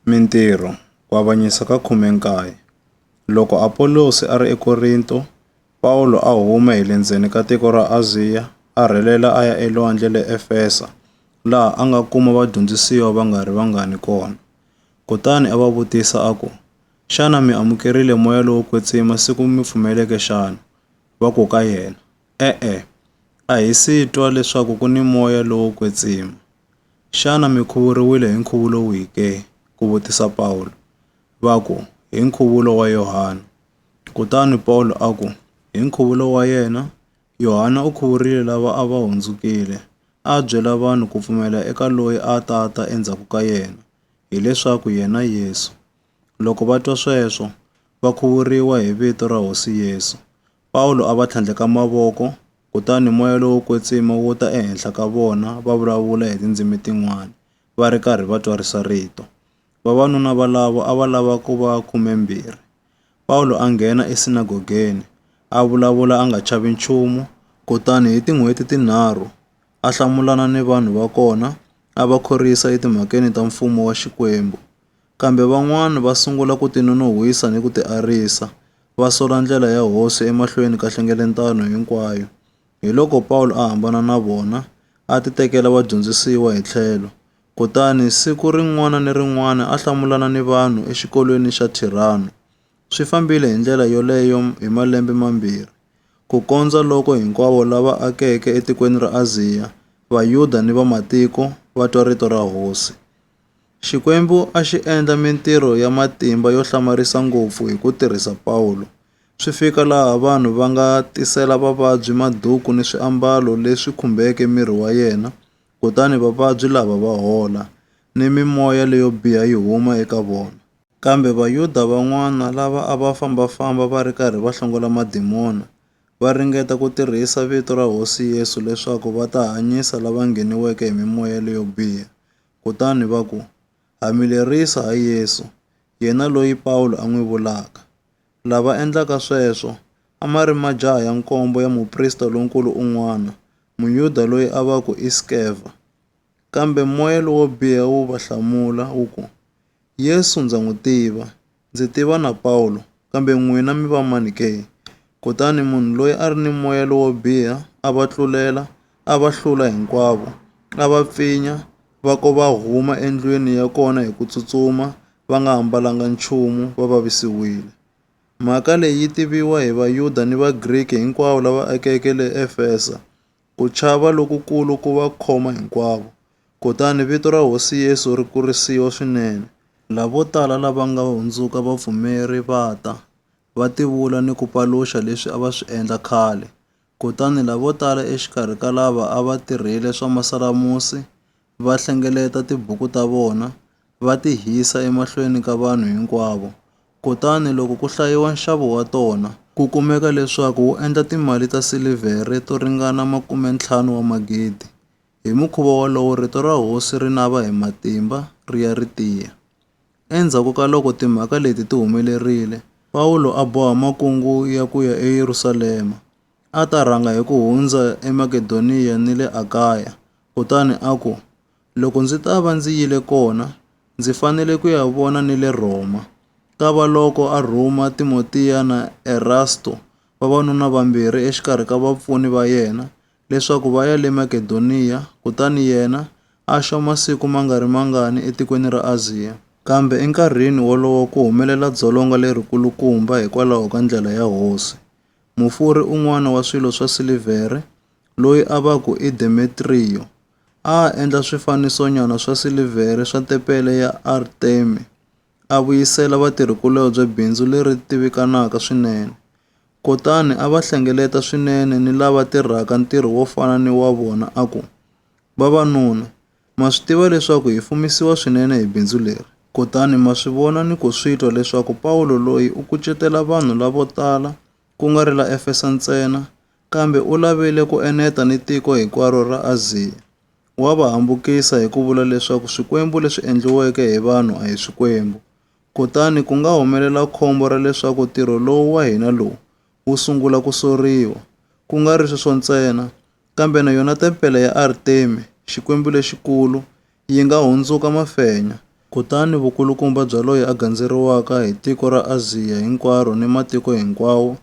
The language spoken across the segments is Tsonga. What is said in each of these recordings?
Mintirho, Ku Avanyisa ka 19 Loko Apolosi a ri eKorinto, Pawulo a huma hi le ndzeni ka tiko ra Aziya a rhelela a ya elwandle le Efesa, laha a nga kuma vadyondzisiwa va nga ri vangani kona. Kutani a va vutisa a ku, Xana mi amukerile moya lowo kwetsima siku mi pfumeleke xana? Va ku ka yena, E-e, a hi si twa leswaku ku ni moya lowo kwetsima. Xana mi khuvuriwile hi nkhuvulo wihi ke? ku vutisa Pawulo. Va ku, Hi nkhuvulo wa Yohana. Kutani Pawulo a ku, Hi nkhuvulo wa yena, Yohana u khuvurile lava a va hundzukile, a byela vanhu ku pfumela eka loyi a ta ta endzhaku ka yena, hileswaku yena Yesu. Loko va twa sweswo, va khuvuriwa hi vito ra Hosi Yesu. Pawulo a va tlhandleka mavoko, kutani moya lowo kwetsima wu ta ehenhla ka vona va vulavula hi tindzimi tin'wana, va ri karhi va twarisa rito. Vavanuna valavo a va lava ku va khumembirhi. Pawulo a nghena esinagogeni, a vulavula a nga chavi nchumu, kutani hi tin'hweti tinharhu a hlamulana ni vanhu va kona, a va khorwisa etimhakeni ta Mfumo wa Xikwembu. Kambe van'wana va sungula ku tinonon'hwisa ni ku tiarisa, va sola ndlela ya Hosi emahlweni ka nhlengeletano hinkwayo. Hiloko Pawulo a hambana na vona, a titekela vadyondzisiwa hi tlhelo, kutani siku rin'wana ni rin'wana a hlamulana ni vanhu exikolweni xa Thirano. Swi fambile hi ndlela yoleyo hi malembe mambirhi, kukondza loko hinkwavo lava akeke etikweni ra Aziya, Vayuda ni Vamatiko, va twa rito ra Hosi. Xikwembu a xi endla mintirho ya matimba yo hlamarisa ngopfu hi ku tirhisa Pawulo, swi fika laha vanhu va nga tisela vavabyi maduku ni swiambalo leswi khumbeke miri wa yena, kutani vavabyi lava va hola, ni mimoya leyo biha yi huma eka vona. Kambe Vayuda van'wana lava a va famba-famba va ri karhi va hlongola madimona, va ringeta ku tirhisa vito ra Hosi Yesu leswaku va ta hanyisa lava ngheniweke hi mimoya leyo biha. kutani va ku, Ha mi lerisa ha Yesu, yena loyi Pawulo a n'wi vulaka. Lava endlaka sweswo a ma ri majaha ya nkombo ya muprista lonkulu un'wana, Muyuda loyi a va ku i Skeva. Kambe moya lowo biha wu va hlamula wu ku, Yesu ndza n'wi tiva, Ndzi tiva na Pawulo, kambe n'wina mi va mani ke? Kutani munhu loyi a ri ni moya lowo biha a va tlulela, a va hlula hinkwavo, a va pfinya, va ko va huma endlwini ya kona hi ku tsutsuma, va nga ambalanga nchumu, va vavisiwile. Mhaka leyi yi tiviwa hi Vayuda ni Vagriki hinkwavo lava akeke le Efesa, Ku chava lokukulu ku va khoma hinkwavo, kutani vito ra Hosi Yesu ri kurisiwa swinene. Lavo tala lava nga hundzuka vapfumeri va ta, va tivula ni ku paluxa leswi a va swi endla khale. Kutani lavo tala exikarhi ka lava a va tirhile swa masalamusi va hlengeleta tibuku ta vona va ti hisa emahlweni ka vanhu hinkwavo, kutani loko ku hlayiwa nxavo wa tona, ku kumeka leswaku wu endla timali ta silivhere to ringana makume-ntlhanu wa magidi. Hi mukhuva wolowo rito ra hosi ri nava hi matimba ri ya ri tiya. Endzhaku ka loko timhaka leti ti humelerile, Pawulo a boha makungu ya ku ya eYerusalema. A ta rhanga hi ku hundza eMakedoniya ni le Akaya, kutani a ku, Loko ndzi ta va ndzi yile kona, ndzi fanele ku ya vona ni le Rhoma. Kavaloko a rhuma Timotiya na Erasto, vavanuna vambirhi exikarhi ka vapfuni va yena, leswaku va ya le Makedoniya, kutani yena a xa masiku ma nga ri mangani etikweni ra Aziya. Kambe enkarhini wolowo ku humelela dzolonga lerikulukumba hikwalaho ka ndlela ya Hosi, mufurhi un'wana wa swilo swa silivhere loyi a va ku i Demetriyo a a endla swifanisonyana swa silivhere swa tepele ya Artemi a vuyisela vatirhikulobye bindzu leri tivikanaka swinene. Kutani a va hlengeleta swinene ni lava tirhaka ntirho wo fana ni wa vona a ku, Vavanuna, Ma swi tiva leswaku hi fumisiwa swinene hi bindzu leri, kutani ma swi vona ni ku swi twa leswaku Pawulo loyi u kucetela vanhu lavo tala ku nga ri la Efesa ntsena, kambe u lavile ku eneta ni tiko hinkwaro ra Aziya. Wa va hambukisa hi ku vula leswaku swikwembu leswi endliweke hi vanhu a hi swikwembu. Kutani ku nga humelela khombo ra leswaku ntirho lowu wa hina lowu wu sungula ku soriwa. Ku nga ri sweswo ntsena, Kambe na yona tempele ya Artemi, xikwembu lexikulu, yi nga hundzuka mafenya. Kutani vukulukumba bya loyi a gandzeriwaka hi tiko ra Aziya hinkwaro ni matiko hinkwawo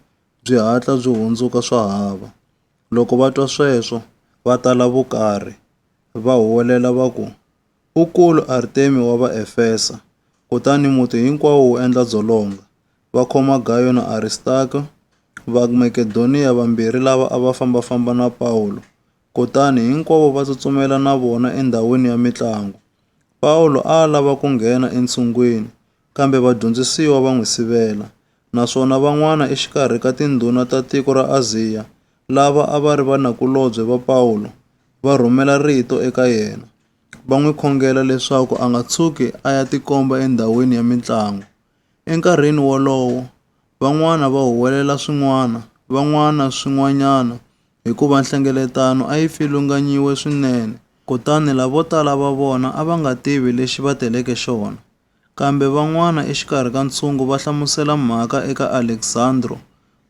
byi hatla byi hundzuka swa hava. Loko va twa sweswo, va tala vukarhi, va huwelela va ku, U kulu Artemi wa Vaefesa, kutani muti hinkwawo wu endla dzolonga. Va khoma Gayo na Aristarko, Vamakedoniya vambirhi lava a va famba-famba na Pawulo, kutani hinkwavo va tsutsumela na vona endhawini ya mintlango. Pawulo a a lava ku nghena entshungwini, kambe vadyondzisiwa va n'wi sivela, naswona van'wana exikarhi ka tindhuna ta tiko ra Aziya lava a va ri vanakulobye va Pawulo va rhumela rito eka yena, va n'wi khongela leswaku a nga tshuki a ya tikomba endhawini ya mintlango. Enkarhini wolowo, van'wana va huwelela swin'wana, van'wana swin'wanyana, hikuva nhlengeletano a yi pfilunganyiwe swinene, kutani lavo tala va vona a va nga tivi lexi va teleke xona. Kambe van'wana exikarhi ka ntshungu va hlamusela mhaka eka Alexandro,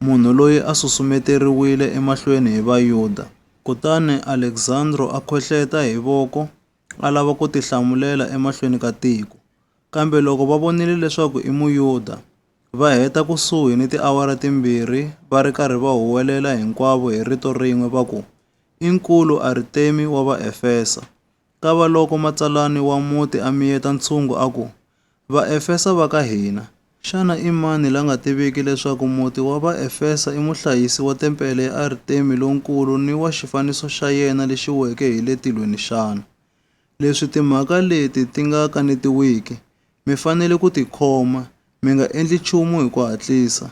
munhu loyi a susumeteriwile emahlweni hi Vayuda. Kutani Alexandro a khohleta hi voko a lava ku tihlamulela emahlweni ka tiko. Kambe loko va vonile leswaku i Muyuda, va heta kusuhi ni tiawara timbirhi va ri karhi va huwelela hinkwavo hi rito rin'we va ku, I nkulu Artemi wa Vaefesa! Kavaloko matsalani wa muti a miyeta ntshungu a ku, Vaefesa va ka hina, xana i mani la nga tiviki leswaku muti wa Vaefesa i muhlayisi wa tempele ya Artemi lonkulu ni wa xifaniso xa yena lexi weke hi le tilweni xana? Leswi timhaka leti ti nga kanetiwiki, mi fanele ku ti khoma, mi nga endli nchumu hi ku hatlisa.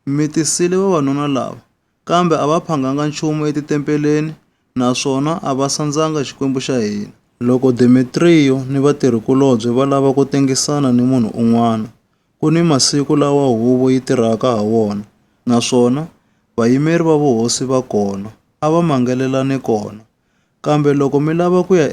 Mi tisile vavanuna lava, kambe a va phanganga nchumu etitempeleni naswona a va sandzanga Xikwembu xa hina. Loko Demetriyo ni vatirhi-kulobye va lava ku tengisana ni munhu un'wana, ku ni masiku lawa huvo yi tirhaka ha wona, naswona vayimeri va vuhosi va kona, a va mangelelane kona. Kambe loko mi lava ku ya